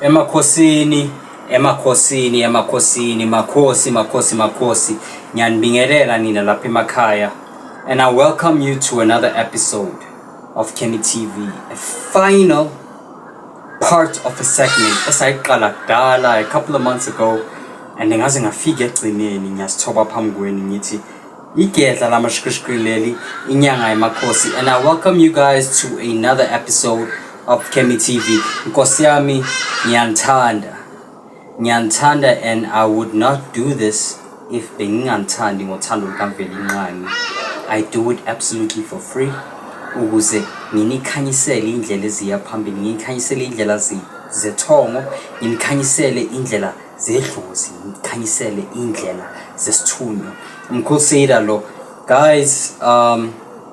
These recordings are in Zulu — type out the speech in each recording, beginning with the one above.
Emakhosini, emakhosini, emakhosini, makhosi, makhosi, makhosi. Ngiyanibingelela nina lapha emakhaya and I welcome you to another episode of Kenny TV, a final part of a segment esayiqala kudala a couple of months ago and ngaze ngafika egcineni ngiyasithoba phambi kwenu ngithi igedla lamashikishikili leli inyanga yamakhosi and i welcome you guys to another episode of kemi tv nkosi yami ngiyanithanda Ngiyanithanda and I would not do this if benginganithandi ngothando lukaVelinqangi. I do it absolutely for free ukuze nginikhanyisele indlela eziya phambili, nginikhanyisele indlela zethongo, nginikhanyisele indlela zedlozi, nginikhanyisele indlela zesithunywa. Umkhulu Seyida lo. Guys, um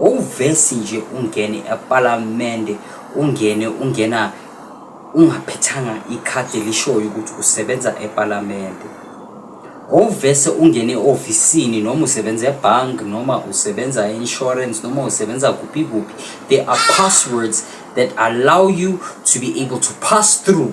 Wawuvesi nje ungene epalamende ungene ungena ungaphethanga ikhadi elishoyo ukuthi usebenza epalamende. Wawuvese ungene e-ofisini noma usebenza ebhanki noma usebenza e-insurance noma usebenza kuphi kuphi. There are passwords that allow you to be able to pass through.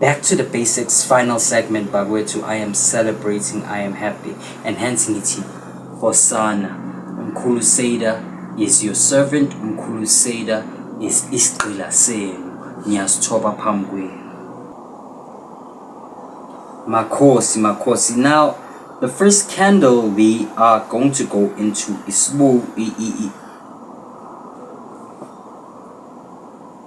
Back to the basics final segment bakwethu I am celebrating I am happy and hence ngithi Hosana Mkhulu Seda is your servant Mkhulu Seda is isigqila senu ngiyasithoba phambi kwenu Makhosi Makhosi now the first candle we are going to go into isbu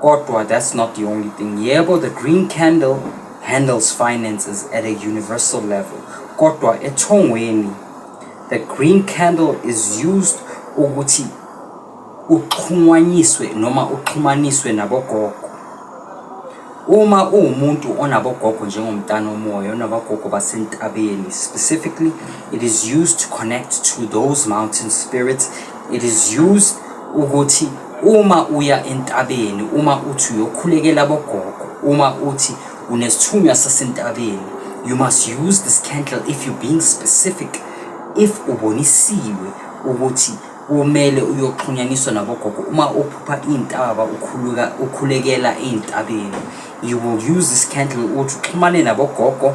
Kodwa that's not the only thing. Yebo, the Green Candle handles finances at a universal level. Kodwa ethongweni, the Green Candle is used ukuthi uxhumanyiswe noma uxhumaniswe nabogogo. Uma uwumuntu onabogogo njengomntana omoya onabogogo basentabeni specifically it is used to connect to those mountain spirits it is used ukuthi Uma uya entabeni, uma uthi uyokhulekela abogogo, uma uthi unesithunywa sasentabeni, you must use this candle if you're being specific, if ubonisiwe ukuthi kumele uyoxhunyaniswa nabogogo uma uphupha iy'ntaba ukhuluka ukhulekela ey'ntabeni you will use this candle ukuthi uxhumane nabogogo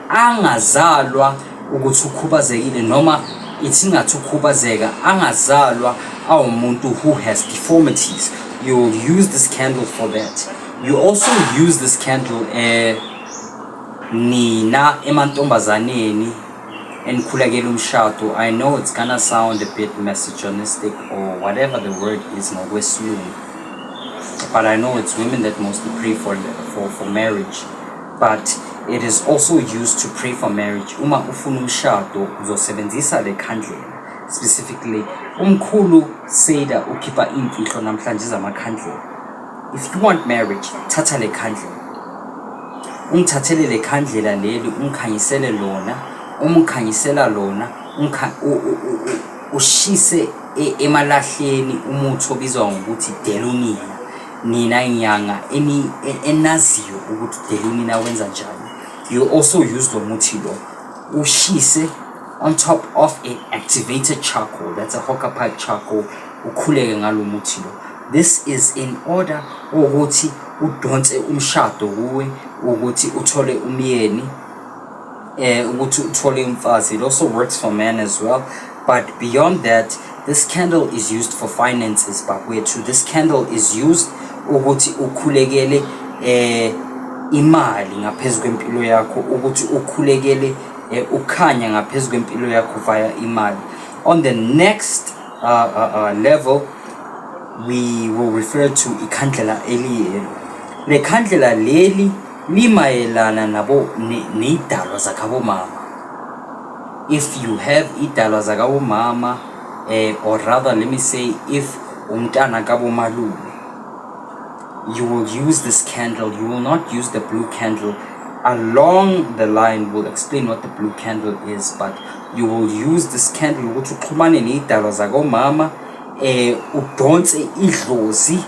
angazalwa ukuthi ukhubazekile noma ithi ngathi ukhubazeka angazalwa awumuntu who has deformities you will use this candle for that you also use this candle eh nina emantombazaneni enikhulekela umshado i know it's gonna sound a bit misogynistic or whatever the word is ngokwesilungu but i know it's women that mostly pray for, for, for marriage But it is also used to pray for marriage. Uma ufuna umshado uzosebenzisa le khandlela. Specifically, umkhulu Seda ukhipha imfihlo namhlanje zamakhandlela. If you want marriage, thatha le khandlela. Ungithathele le khandlela leli ungikhanyisele lona, umkhanyisela lona, ushise e-, emalahleni umuthi obizwa ngokuthi delonina. Nina inyanga eni e- enaziyo ukuthi udelini na wenza njani. You also use lo muthi lo. Ushise on top of a activated charcoal. That's a hocker pipe charcoal. Ukhuleke ngalo muthi lo. This is in order ukuthi udonse umshado kuwe ukuthi uthole umyeni eh ukuthi uthole umfazi it also works for men as well but beyond that this candle is used for finances bakwethu this candle is used ukuthi ukhulekele eh imali ngaphezu kwempilo yakho ukuthi ukhulekele eh, ukhanya ngaphezu kwempilo yakho via imali on the next uh, uh, uh, level we will refer to ikhandlela eliyelo lekhandlela leli limayelana nabo ney'dalwa zakhabomama if you have iy'dalwa zakabomama eh, or rather let me say if umntana kabomalume you will use this candle you will not use the blue candle along the line will explain what the blue candle is but you will use this candle ukuthi uxhumane ney'dalwa zakomama eh udonse idlozi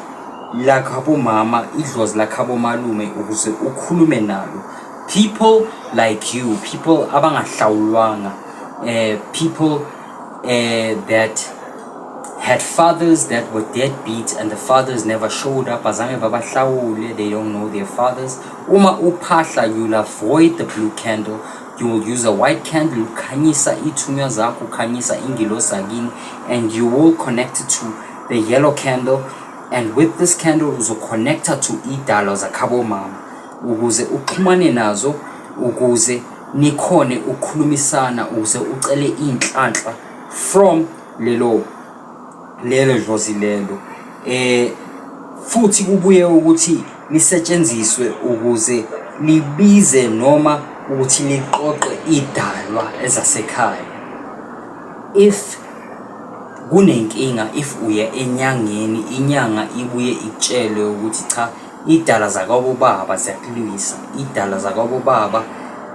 lakhabomama idlozi lakhabomalume ukuze ukhulume nalo people like you people abangahlawulwanga uh, people uh, that had fathers that were deadbeat and the fathers never showed up azange babahlawule they don't know their fathers uma uphahla you'll avoid the blue candle you will use a white candle ukhanyisa ithunywa zakho ukhanyisa ingilosi akini and you will connect to the yellow candle and with this candle uzoconnecta to idalwa zakhabo mama ukuze uxhumane nazo ukuze nikhone ukukhulumisana ukuze ucele inhlanhla from lelo lelo dlozi lelo eh futhi kubuye ukuthi lisetshenziswe ukuze libize noma ukuthi liqoqe idalwa ezasekhaya if Kunenkinga if uya enyangeni inyanga ibuye ikutshele ukuthi cha iy'dalwa zakwabo baba ziyakulwisa, iy'dalwa zakwabo baba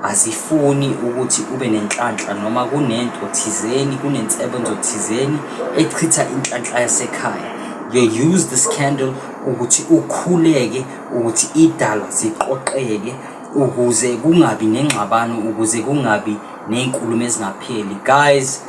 azifuni ukuthi ube nenhlanhla noma kunento thizeni kunensebenzo thizeni echitha inhlanhla yasekhaya. They use the scandal ukuthi ukhuleke ukuthi iy'dalwa ziqoqeke ukuze kungabi nengxabano ukuze kungabi ney'nkulumo ezingapheli guys.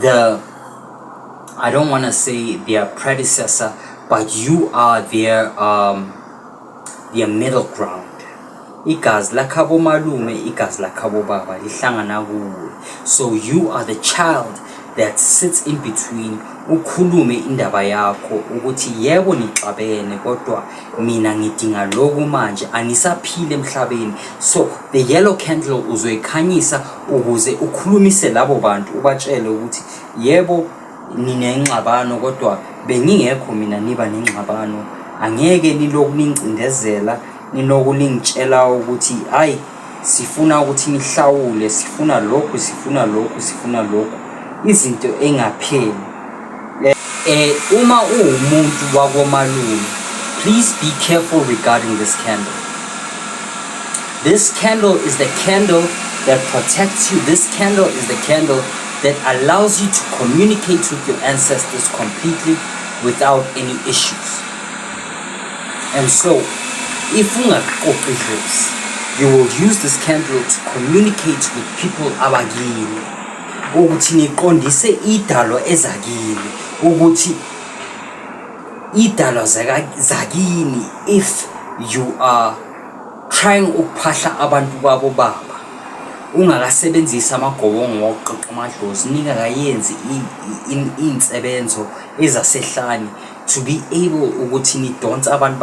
the I don't want to say their predecessor, but you are their um, their middle ground. Igazi lakhabo malume, igazi lakhabo baba lihlangana kuwe. So you are the child that sits in between ukhulume indaba yakho ukuthi yebo nixabene kodwa Mina ngidinga lokhu manje, angisaphili emhlabeni. So the yellow candle uzoyikhanyisa ukuze ukhulumise labo bantu ubatshele ukuthi yebo ninengxabano kodwa bengingekho mina niba nengxabano. Angeke nilokhu ningicindezela, nilokhu ningitshela ukuthi hhayi. sifuna ukuthi nihlawule sifuna lokhu sifuna lokhu sifuna lokhu izinto engapheli eh uma uwumuntu wakomalume please be careful regarding this candle this candle is the candle that protects you this candle is the candle that allows you to communicate with your ancestors completely without any issues And so, if ungaqoqi idlozi, you will use this candle to communicate with people abakini ukuthi niqondise idalo ezakini ukuthi idalo zakini if you are trying ukuphahla abantu babo baba ungakasebenzisi amagobongo wokuqoqa amadlozi ningakayenzi insebenzo ezasehlane to be able ukuthi nidonse abantu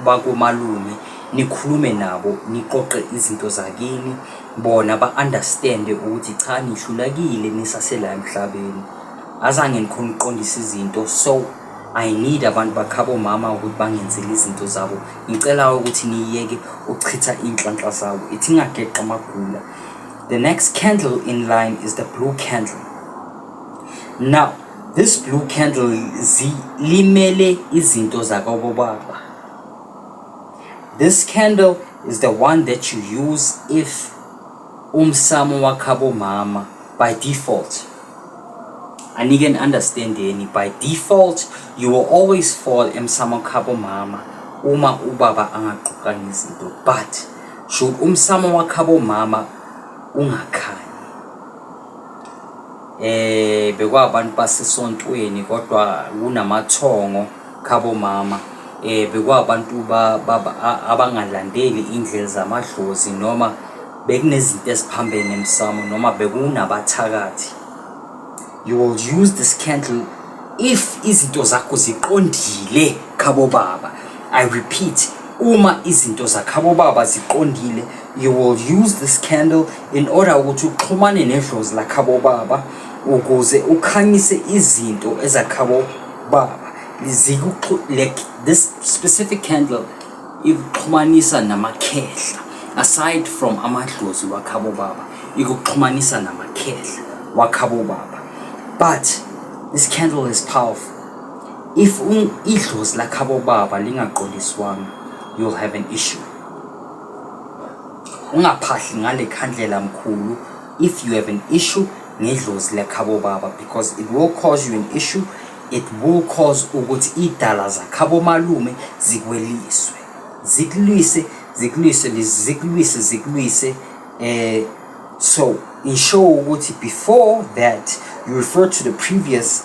bakomalume nikhulume nabo niqoqe izinto zakini bona ba-understande ukuthi cha nihlulakile nisasela emhlabeni azange ngikhona ukuqondisa izinto so i need abantu bakhabo mama ukuthi bangenzele izinto zabo ngicela ukuthi niyeke ukuchitha iy'nhlanhla zabo ithi ingageqa amagula the next candle in line is the blue candle now This blue candle zilimele izinto zakobobaba. This candle is the one that you use if umsamo wakhabo mama by default. Anike an understanding by default you will always fall emsamo khabo mama uma ubaba angaqoqanga izinto but should umsamo wakhabo mama ungakhanyi eh bekwabantu basesontweni kodwa kunamathongo khabo mama eh bekwabantu abangalandeli indlela zamadlozi noma bekunezinto eziphambene emsamo noma bekunabathakathi you will use this candle if izinto zakho ziqondile khabo baba i repeat uma izinto zakhabo baba ziqondile you will use this candle in order ukuthi uxhumane nedlozi lakhabo baba ukuze ukhanyise izinto ezakhabo baba like this specific candle ikuxhumanisa namakhehla aside from amadlozi wakhabo baba ikuxhumanisa namakhehla wakhabo baba but this candle is powerful if idlozi lakhabo baba lingaqondiswanga you'll have an issue ungaphahli ngale khandlela mkhulu if you have an issue ngedlozi lekhabo baba because it will cause you an issue it will cause ukuthi idala zakhabo malume zikweliswe zikulwise zikulwise zikulwise zikulwise eh so ensure ukuthi before that you refer to the previous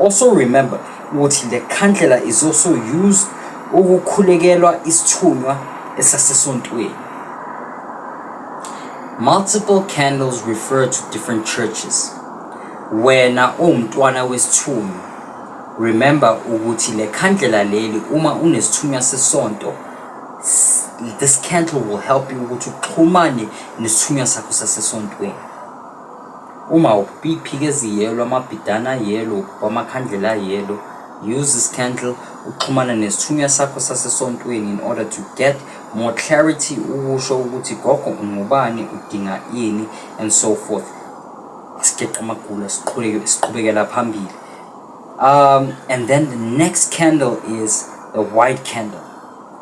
Also remember ukuthi le khandlela is also used ukukhulekelwa isithunywa esasesontweni. Multiple candles refer to different churches. Wena uwumntwana wesithunywa. Remember ukuthi le khandlela leli uma unesithunywa sesonto this candle will help you ukuthi uxhumane nesithunywa sakho sasesontweni. Uma ukuphika eziyelo, amabhidane ayelo, ukubha amakhandlela ayelo, use this candle uxhumane nesithunywa sakho sasesontweni in order to get more clarity ukusho ukuthi gogo ungubani udinga ini and so forth sigeqa amagula siqhubeke siqhubekela phambili um and then the next candle is the white candle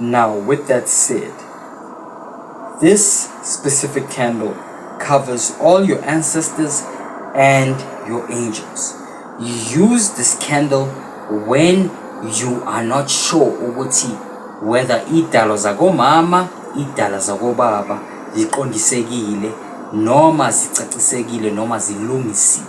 Now with that said, this specific candle covers all your ancestors and your angels. Use this candle when you are not sure ukuthi whether idalo zakomama idala zakobaba ziqondisekile noma zicacisekile noma zilungisiwe.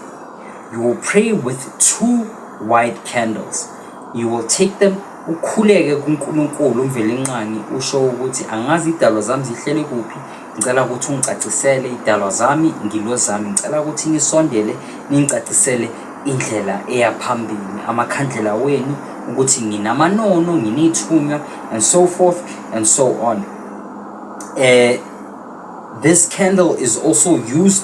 You will pray with two white candles. You will take them ukhuleke kuNkulunkulu uMvelinqangi usho ukuthi angazi idalwa zami zihleli kuphi ngicela ukuthi ungicacisele idalwa zami ngilo zami ngicela ukuthi nisondele ningicacisele indlela eya phambili amakhandlela wenu ukuthi nginamanono nginithunywa and so forth and so on uh, this candle is also used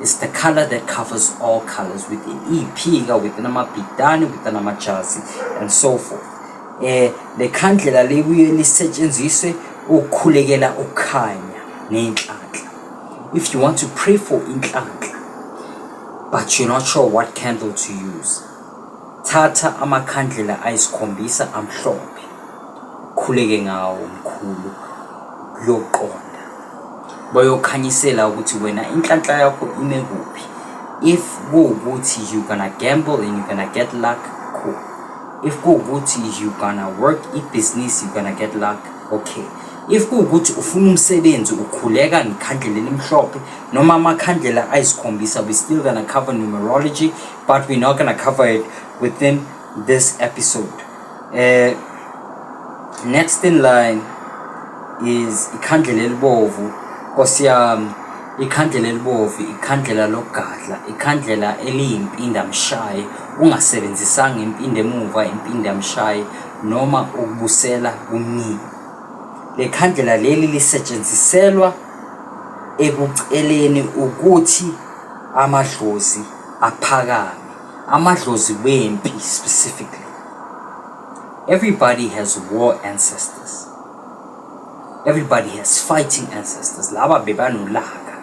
It's the color that covers all colors within iphika within amabhidane within amajazi and so forth eh le khandlela libuye lisetshenziswe ukukhulekela ukukhanya nenhlanhla if you want to pray for inhlanhla but you're not sure what candle to use thatha amakhandlela ayisikhombisa amhlophe Khuleke ngawo mkhulu kuyoqonda. Bayokhanyisela ukuthi wena inhlanhla yakho ime kuphi. If kuwukuthi you gonna gamble and you gonna get luck, cool. If kuwukuthi you gonna work ibhizinisi you gonna get luck, okay. If kuwukuthi ufuna umsebenzi ukhuleka ngekhandlela elimhlophe noma amakhandlela ayisikhombisa we still gonna cover numerology but we're not gonna cover it within this episode. Eh next in line is ikhandlela elibovu Nkosi yami ikhandlela elibovu ikhandlela lokugadla ikhandlela eliyimpinda mshaye ungasebenzisanga impinda emuva impinda mshaye noma ukubusela kumnini lekhandlela leli lisetshenziselwa ekuceleni ukuthi amadlozi aphakame amadlozi wempi specifically everybody has war ancestors everybody has fighting ancestors laba bebanolaka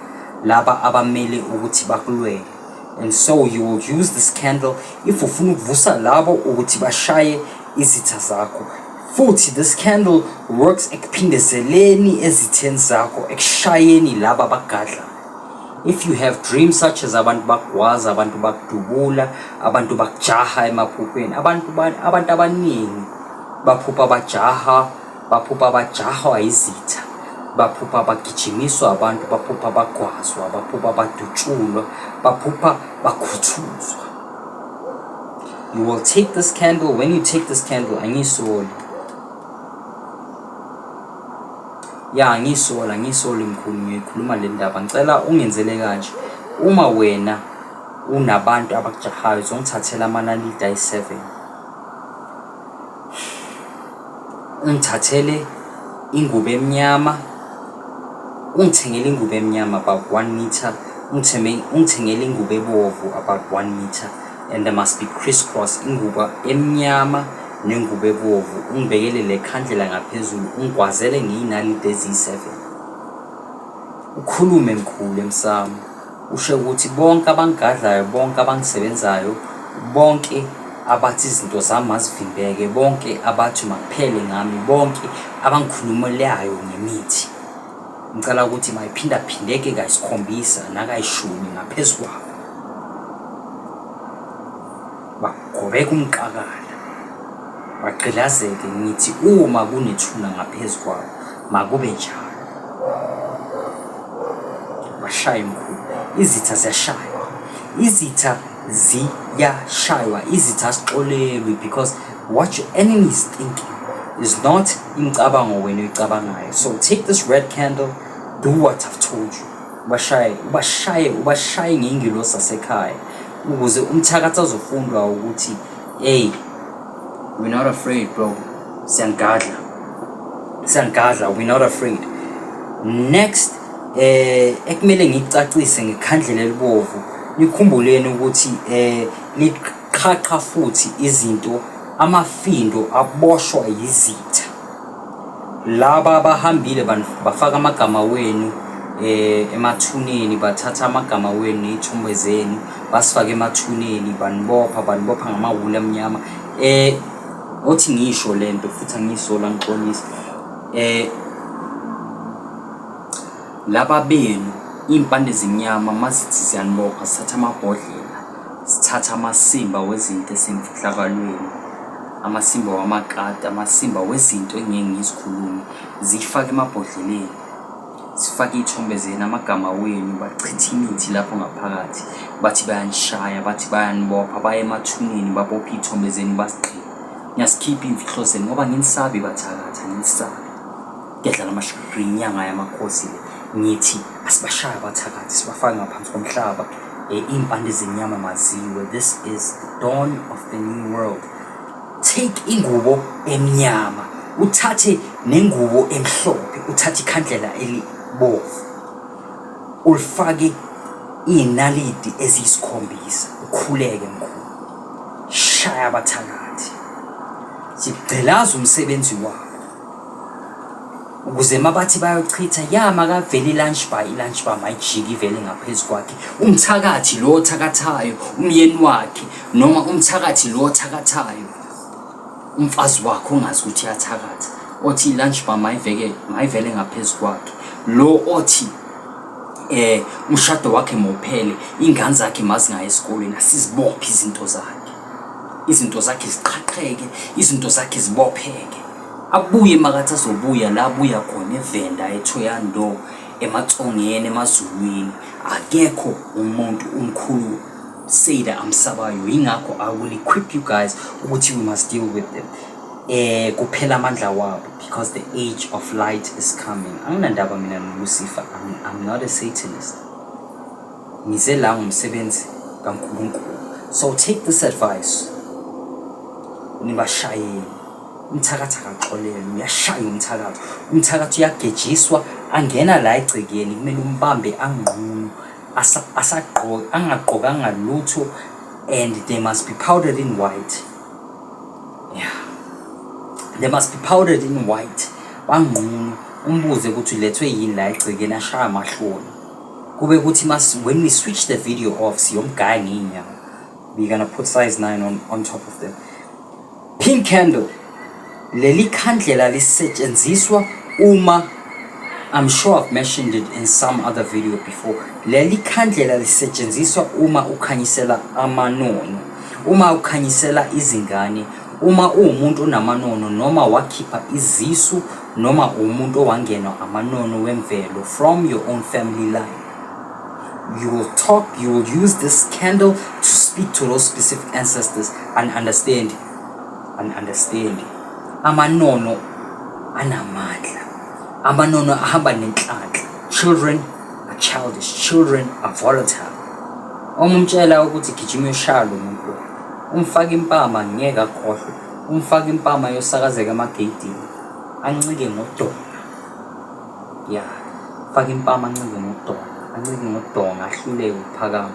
laba abamele ukuthi bakulwele and so you will use this candle if ufuna ukuvusa labo ukuthi bashaye izitha zakho futhi this candle works ekuphindezeleni ezitheni zakho ekushayeni laba bagadla if you have dreams such as abantu bakugwaza abantu bakudubula abantu bakujaha emaphupheni abantu abantu abaningi baphupha bajaha baphupha bajahwa izitha baphupha bagijimiswa abantu baphupha bagwazwa baphupha badutshulwa baphupha bakhuthuzwa you will take this candle when you take this candle angisoli Ya ngisola ngisoli mkhulu ngiyoyikhuluma le ndaba ngicela ungenzele kanje uma wena unabantu abakujahayo zongithathela amanaliti ayi-seven ungithathele ingubo emnyama ungithengele ingubo emnyama about one meter ungithengele ingubo ebovu about one meter and there must be criss cross ingubo emnyama nengubo ebovu, ungibekele lekhandlela ngaphezulu, ungigwazele ngeyinalidi eziyi-seven. Ukhulume mkhulu emsamo, usho ukuthi bonke abangigadlayo, bonke abangisebenzayo, bonke abathi izinto zami mazivimbeke, bonke abathi makuphele ngami, bonke abangikhulumelayo ngemithi. Ngicela ukuthi mayiphindaphindeke kayisikhombisa nakayishumi ngaphezu kwabo. bagobeka umqakala bagqilazeke ngithi uma kunethuna ngaphezu kwabo makube njalo bashaya imkhulu izitha ziyashaywa izitha ziyashaywa izitha sixolelwe because what your enemy is thinking is not imicabango wena oyicabangayo so take this red candle do what i've told you ubashaye ubashaye ubashaye ngengilosi asekhaya ukuze umthakathi azofundwa ukuthi hey we're not afraid bro siyangadla siyangadla we're not afraid next eh ekumele ngicacise ngekhandlela elibovu nikhumbuleni ukuthi eh liqhaqha futhi izinto amafindo aboshwa yizitha Laba bahambile bafaka amagama wenu eh emathuneni bathatha amagama wenu ney'thombe zenu basifake emathuneni banibopha banibopha ngamawuli amnyama eh othi ngisho le nto futhi angiyisola ngixolisa eh laba benu iy'mpande zimnyama mazithi ziyanibopha sithatha amabhodlela Sithatha amasimba wezinto esemfihlakalweni, amasimba wamakati, amasimba wezinto engingeke ngizikhulume, zifake emabhodleleni. Sifake iy'thombe zenu, amagama wenu, bachithe imithi lapho ngaphakathi. Bathi bayanishaya, bathi bayanibopha, baye emathuneni babophe iy'thombe zenu basigqibe. Niyasikhipha iy'mfihlo zenu ngoba anginisabi bathakathi, anginisabi. Ngiyadlala amashubhi inyanga yamakhosi le. Ngithi asibashaye abathakathi sibafake ngaphansi komhlaba. Eh, iy'mpande zenyama maziwe. This is the dawn of the new world. Take ingubo emnyama, uthathe nengubo emhlophe, uthathe ikhandlela elibovu. Ulifake iy'nalidi eziyisikhombisa, ukhuleke mkhulu. Shaya abathakathi. Sigqilaza umsebenzi wabo. ukuze mabathi bayochitha ya makavele i-lunch bar i-lunch bar mayijike ivele ngaphezu kwakhe umthakathi lo othakathayo umyeni wakhe noma umthakathi lo othakathayo umfazi wakhe ongazi ukuthi uyathakatha othi i-lunch bar mayiveke mayivele ngaphezu kwakhe lo othi eh umshado wakhe mophele ingane zakhe mazingaye esikolweni asizibophe izinto zakhe izinto zakhe ziqhaqheke izinto zakhe zibopheke abuye makathi azobuya la abuya khona evenda ethoyando ematsongeni emazulwini akekho umuntu umkhulu Seda amsabayo yingakho I will equip you guys ukuthi we must deal with them eh kuphela amandla wabo because the age of light is coming anginandaba mina noLucifer I'm, I'm not a satanist ngize la ngomsebenzi kaNkulunkulu so take this advice nibashayeli umthakathi akaxolele uyashaya umthakathi umthakathi uyagejiswa angena la egcekeni kumele umbambe anqunu asagqoke angagqokanga lutho and they must be powdered in white yeah they must be powdered in white banqunu umbuze ukuthi ulethwe yini la egcekeni ashaya amahloni Kube kuthi mas when we switch the video off siyomgaya ngey'nyawo. We're gonna put size 9 on, on top of them. Pink candle. Leli khandlela lisetshenziswa uma I'm sure I've mentioned it in some other video before. Leli khandlela lisetshenziswa uma ukhanyisela amanono, uma ukhanyisela izingane, uma uwumuntu onamanono noma wakhipha izisu Noma uwumuntu owangenwa amanono wemvelo from your own family line. You will talk, you will use this candle to speak to those specific ancestors and understand, and understand. Amanono anamandla. Amanono ahamba nenhlanhla. Children are childish, children are volatile. Uma umtshela ukuthi gijima ushaya lo muntu, umfaka impama ngeke akhohlwe. Umfaka impama yosakazeka amageyidini ancike ngodonga ya faka impama ancike ngodonga ancike ngodonga ahluleke ukuphakama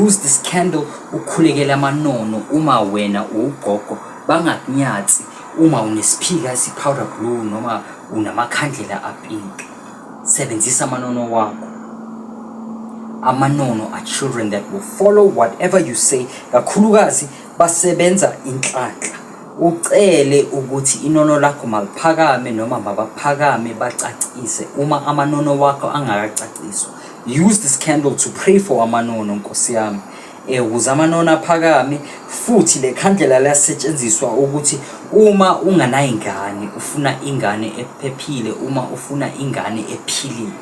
use this candle ukhulekele amanono uma wena uwugogo bangakunyathi uma unesiphika esipowder blue noma unamakhandlela apink sebenzisa amanono wakho amanono are children that will follow whatever you say kakhulukazi Basebenza inhlanhla. Ucele ukuthi inono lakho maliphakame noma mabaphakame bacacise uma amanono wakho angakacaciswa. Use this candle to pray for amanono nkosi yami. Eh, ukuze amanono aphakame futhi le khandlela liyasetshenziswa ukuthi uma unganayingane ufuna ingane ephephile uma ufuna ingane ephilile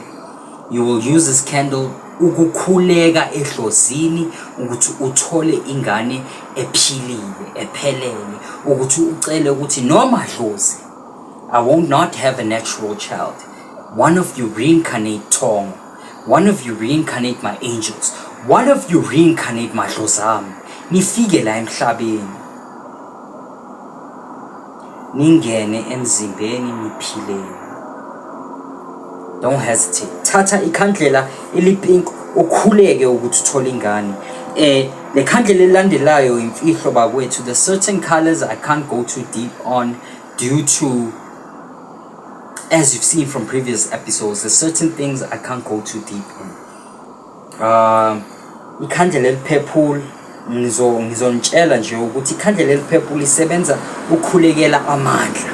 you will use this candle ukukhuleka edlozini ukuthi uthole ingane ephilile ephelele ukuthi ucele ukuthi noma dlozi i won't not have a natural child one of you reincarnate thongo one of you reincarnate my angels one of you reincarnate madlozami nifike la emhlabeni ningene emzimbeni niphileni don't hesitate thatha ikhandlela elipink ukhuleke ukuthi uthole ingane eh le khandlela elilandelayo imfihlo bakwethu the certain colors i can't go too deep on due to as you've seen from previous episodes the certain things i can't go too deep in um ikhandlela eliphephula ngizonitshela nje ukuthi ikhandlela eliphephula isebenza ukukhulekela amandla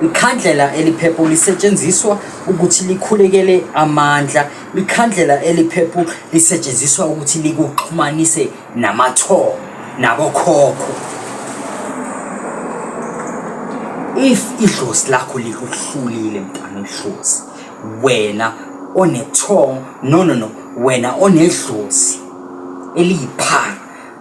ikhandlela eliphephula lisetshenziswa ukuthi likhulekele amandla ikhandlela eliphephula lisetshenziswa ukuthi likuxhumanise namathongo nabokhokho if idlozi lakho likuhlulile mntana idlozi wena onethong no no no wena onedlozi eliyiphara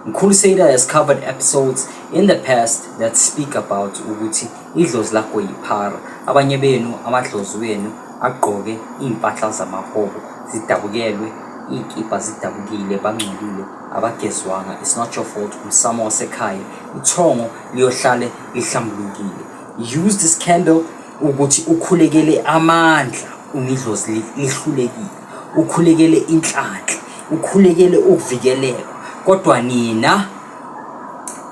mkhulu Seda has covered episodes in the past that speak about ukuthi idlozi lakho yiphara abanye benu amadlozi wenu agqoke iy'mpahla zamahobo zidabukelwe iy'kibha zidabukile bangcolile abagezwanga it's not your fault umsamo wasekhaya ithongo liyohlale lihlambulukile use this candle Ukuthi ukhulekele amandla unidlozi lihlulekile, ukhulekele inhlanhla, ukhulekele ukuvikeleka kodwa nina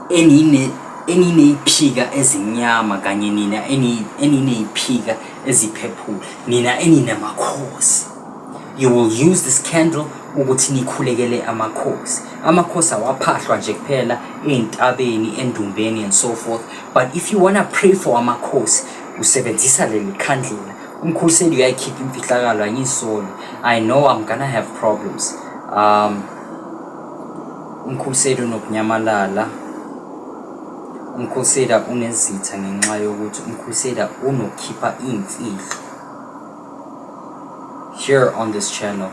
enine eniney'phika ezimnyama kanye nina eniney'phika eziphephule, nina eninamakhosi. You will use this candle ukuthi nikhulekele amakhosi amakhosi awaphahlwa nje kuphela ezintabeni endumbeni and so forth but if you wanna pray for amakhosi usebenzisa leli khandlela umkhuseli uyayikhipha imfihlakalo angisoli i know i'm gonna have problems um umkhuseli unokunyamalala umkhusela unezitha ngenxa yokuthi umkhusela unokhipha imfihlo Here on this channel,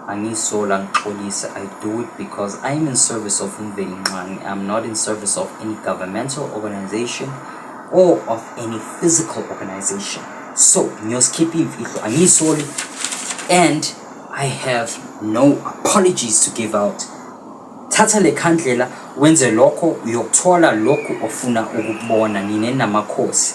angisola ngixolise, I do it because I am in service of Mveli Nxangi. I'm not in service of any governmental organization or of any physical organization. So, ngiyozikhipha imfihlo, angisoli and I have no apologies to give out. Thatha le khandlela wenze lokho uyokuthola lokhu ofuna ukubona nine namakhosi.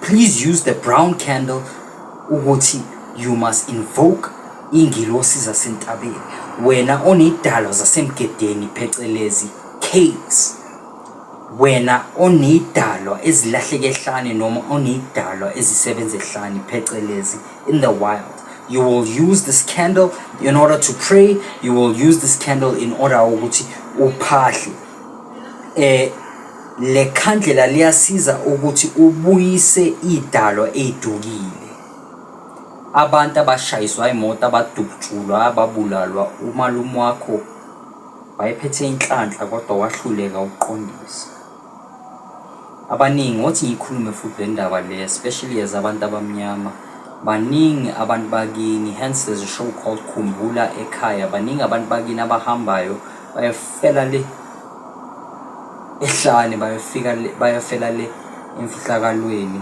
Please use the brown candle ukuthi you must invoke ingilosi zasentabeni wena onidalo zasemgedeni phecelezi caves wena onidalwa ezilahleke ehlane noma onidalwa ezisebenza ehlane phecelezi in the wild you will use this candle in order to pray you will use this candle in order ukuthi uphahle eh le khandlela liyasiza ukuthi ubuyise idalo edukile abantu abashayiswa imoto abadutshulwa ababulalwa umalume wakho wayephethe inhlanhla kodwa wahluleka ukuqondisa abaningi othi ngikhulume futhi le ndaba le especially as abantu abamnyama baningi abantu bakini hence there's a show called khumbula ekhaya baningi abantu bakini abahambayo bayofela le ehlane bayofika le bayofela le emfihlakalweni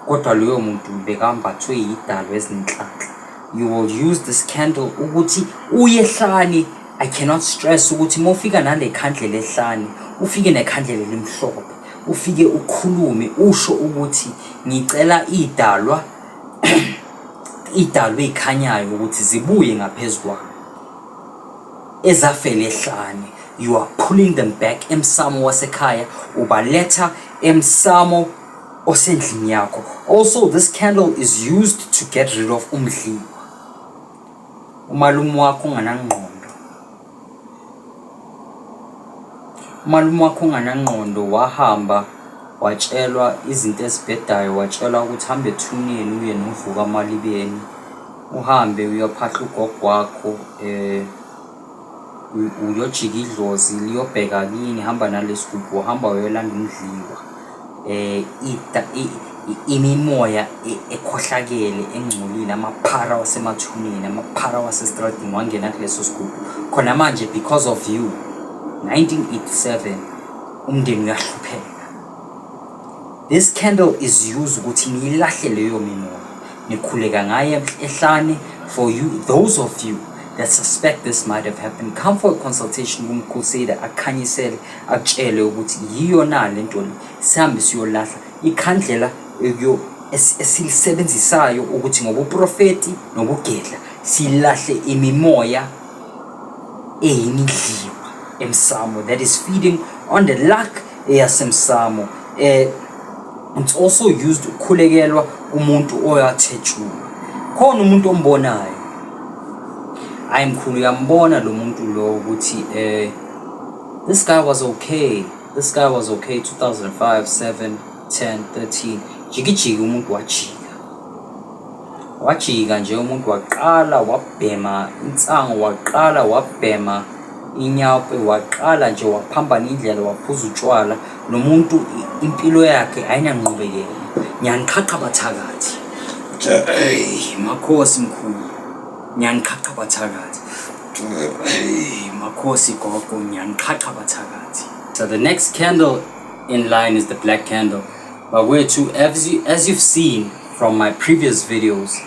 kodwa loyo muntu bekambathwe yidalo ezinhlanhla you will use this candle ukuthi uye ehlane i cannot stress ukuthi uma ufika nale khandlela ehlane ufike nekhandlela elimhlophe ufike ukhulume usho ukuthi ngicela idalwa idalwe ikhanyayo ukuthi zibuye ngaphezulu kwami ezafele hlane you are pulling them back emsamo wasekhaya ubaletha emsamo osendlini yakho also this candle is used to get rid of umdliwa umalume wakho unganangqondo umalume wakho unganangqondo wahamba watshelwa izinto ezibhedayo watshelwa ukuthi hambe ethuneni uye novuka amalibeni Uhambe uyophahla ugogo wakho eh u- uyojika idlozi liyobheka kini hamba nalesigubhu hamba uyolanda umdliwa eh ita- i- i- imimoya e- ekhohlakele engcolile amaphara wasemathuneni amaphara wasestradini wangena kuleso sigubhu khona manje because of you 1987 umndeni uyahlupheka this candle is used ukuthi niyilahle leyo mimoya nikhuleka ngaye ehlane for you those of you that suspect this might have happened come for a consultation kumcrusader akhanyisele akutshele ukuthi yiyo na le nto le sihambe siyolahla ikhandlela esilisebenzisayo ukuthi ngobuprofeti nokugedla silahle imimoya eyimidliwa emsamo that is feeding on the luck eyasemsamo eh it's also used ukukhulekelwa umuntu oyathejula khona umuntu ombonayo hayi mkhulu uyambona lo muntu lo ukuthi eh this guy was okay this guy was okay 2005 7 10 13 jikijiki umuntu wajika Wajika nje umuntu waqala wabhema insangu, waqala wabhema inyawupe, waqala nje waphambana indlela waphuza utshwala. Lo muntu impilo yakhe ayinanqubekela. Ngiyaniqhaqha bathakathi. Eyi makhosi mkhulu, ngiyaniqhaqha bathakathi. Eyi makhosi gogo, ngiyaniqhaqha bathakathi. So the next candle in line is the black candle. bakwethu as, you, as you've seen from my previous videos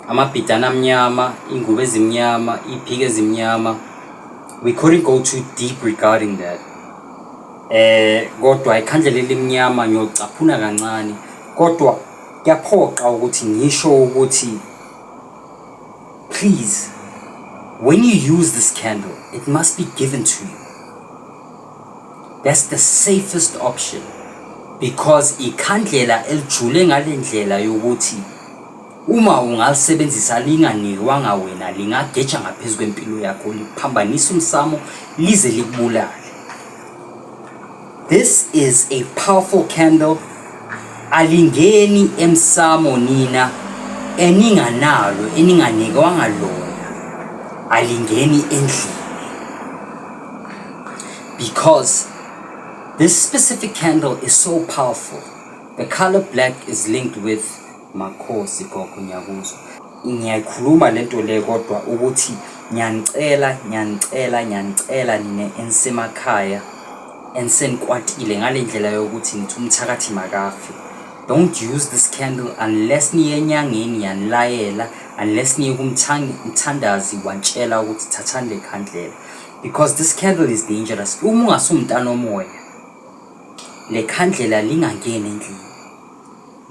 amabhidana amnyama ingubo ezimnyama iphiki ezimnyama we couldn't go too deep regarding that eh kodwa ikhandlela elimnyama ngiyocaphuna kancane kodwa kuyaphoqa ukuthi ngisho ukuthi please when you use this candle it must be given to you That's the safest option because ikhandlela elijule ngale ndlela yokuthi uma ungalisebenzisa linganikwanga wena lingageja ngaphezu kwempilo yakho liphambanisa umsamo lize likubulale this is a powerful candle alingeni emsamo nina eninganalo eninganikwanga lona alingeni endlini Because this specific candle is so powerful. The color black is linked with Makhosi Gogo Nyakuzo. Ngiyayikhuluma lento le kodwa ukuthi ngiyanicela ngiyanicela ngiyanicela nina enisemakhaya enisenikwatile ngale ndlela yokuthi nithi umthakathi makafi don't use this candle unless niye enyangeni yanilayela unless niye kumthandazi watshela ukuthi thathani le khandlela because this candle is dangerous uma ungasumntana omoya le khandlela lingangeni endlini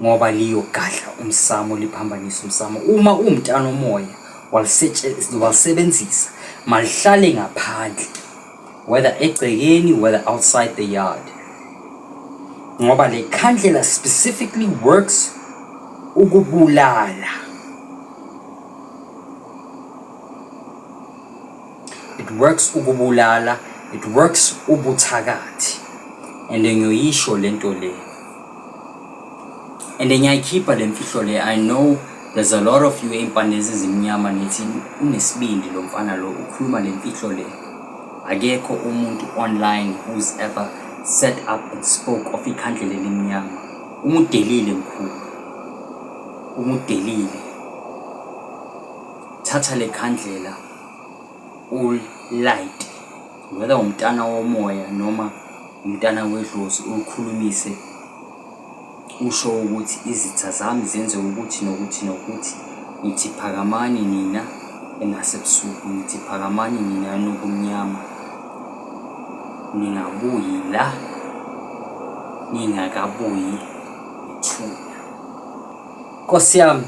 ngoba liyogadla umsamo liphambanisa umsamo uma uwumntana omoya walisebenzisa malihlale ngaphandle whether egcekeni whether outside the yard ngoba le khandlela specifically works ukubulala It works ukubulala, it works ubuthakathi and ngiyoyisho lento le and ngiyayikhipha le mfihlo le I know there's a lot of you ey'mpande ezizimnyama nithi unesibindi lo mfana lo ukhuluma le mfihlo le akekho umuntu online who's ever set up and spoke of ikhandle lelimnyama umudelile mkhulu umudelile thatha le khandlela ulight whether umntana womoya noma umntana wedlozi ulikhulumise usho ukuthi izitha zami zenze ukuthi nokuthi nokuthi ngithi phakamani nina enasebusuku ngithi phakamani nina nokumnyama ningabuyi la ningakabuyi ithuna nkosi yami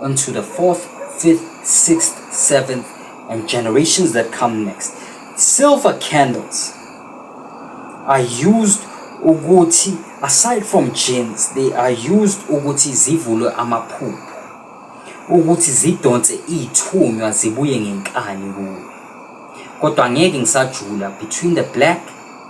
unto the fourth, fifth, sixth, seventh, and generations that come next. Silver candles are used ukuthi aside from genes they are used ukuthi zivulwe amaphupho ukuthi zidonse ithunywa zibuye ngenkani kuwe kodwa ngeke ngisajula between the black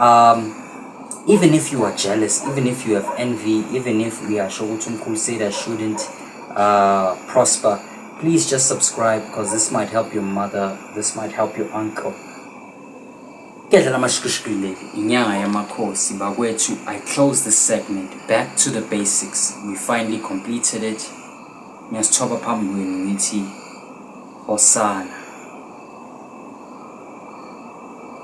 um even if you are jealous even if you have envy even if uyasho ukuthi umkhulu said shouldn't uh, prosper please just subscribe because this might help your mother this might help your uncle kuyadlala amashikishiki leli inyanga yamakhosi bakwethu i close this segment back to the basics we finally completed it ngiyasithoba phambi kwenu ngithi osana